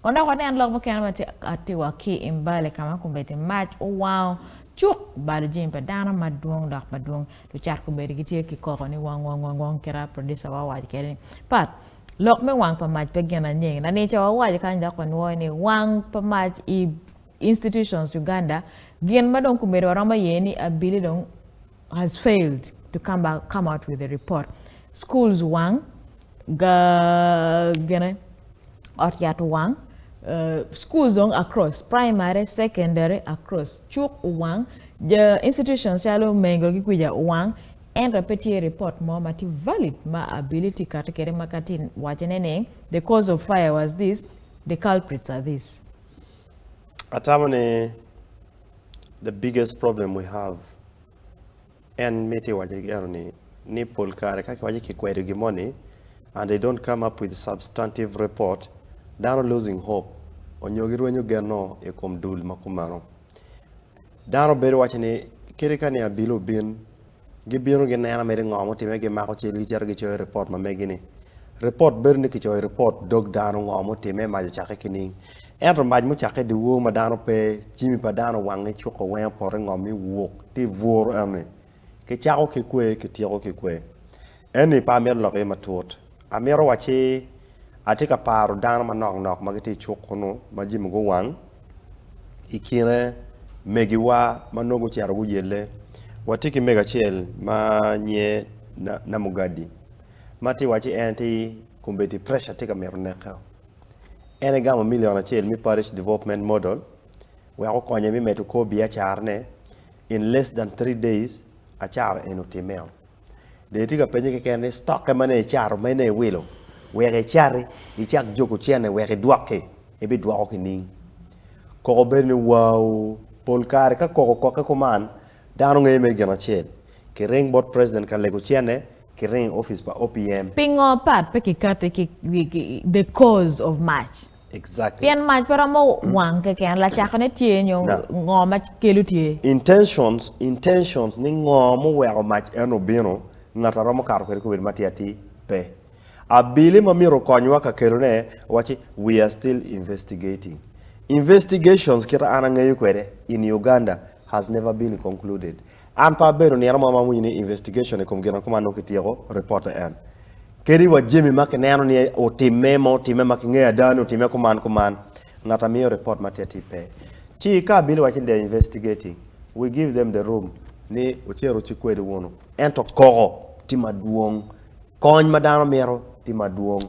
Wanongo waneno lok mukene ma tye atiwa ki i mbale ka ma kombeddi mac owango cuk balo jami pa dano madwong dok madwong. Lucat kombeddi gitye ki koko ni wong wong wong wong kit-a producer-wa owaco kwede ni Pat, lok me wang pa mac pe gin anyengi. Lanica-wa owaco kany dok wanwoyo ni wang pa mac i institutions Uganda gin ma dong kombeddi waromo ye ni abili dong has failed to come out with a report, schools wang, gine ot yat owang, schools dong across, primary, secondary across, cuk owang, institutions calo mengo ki kwica owang, ento pe tye report mo ma tye valid ma abili tye kati kede ma ka tye wacone ni the cause of fire was this, the culprits are this. Atamo ni the biggest problem we have en miti iwace ki eno ni ni pol kare ka kiwace kikwedo gin mo ni and they don't come up with substantive report dano losing hope onyo girwenyo genno i kom dul ma kumeno. Dano bedo waco ni, Kadi ka ni abili obin, gibino ginena mere ngo ma otime, gimako cal gicito gicoyo i ripot ma megi ni. Ripot bedo ni kicoyo i ripot dog dano ngo ma otime, mac ocakke ki ning. Ento mac mucakke i dyewor ma dano pe, jimi pa dano wangi cuko weng opoto i ngom ni wuk ti buru eno ni. Kicako ki kwer kityeko ki kwer. Eni pe amito lok iye matut. Amito wacci atye ka paro dano manok nok ma gitye i cuk kunnu ma jami guwang i kine megiwa ma nongo gucito guyelle. Watye ki mego acel ma nyiye Namugadi ma tye wacci en tye kombeddi pressure tye ka mito neke. En egamo million acel me Parish Development Model wek okonye me medo kor biacarane. in less than three days acato en otimeo dong itye ka penye keken ni stock-ke ma nongo icato ma inongo iwilo wek icati icak juku cene wek idwok-ki ibidwoko ki ning? Koko bedo ni wau pol kare ka koko okokke kuman dano ngeye mere gin acel kiring bot president ka lego cene kiring i office pa OPM. Pingo part pe kikati ki wigi the cause of much. Pien mac pe romo wang keken, lacakone tye nyo ngo ma kelo tye? Intentions, Intentions ni ngo muweko mac eno bino, ngat a romo kato kwede kobedi matir atir pe. Abili ma myero okonywa ka kelone wacci we are still investigating. Investigations kit a an angeyo kwede in Uganda has never been concluded. An pe abedo nino mo ma awinyo ni investigation i kom gin akumo anongo kityeko ripote en. Kadi wa jami ma kineno ni otimme ma otimme ma kingeyo ada ni otimme kuman kuman, ngat amiyo report ma tye atir pe. Ci ka abili waci ni they are investigating, we give them the room ni ocero oci kwedi wunu. Ento koko tye madwong. Kony ma dano mito tye madwong.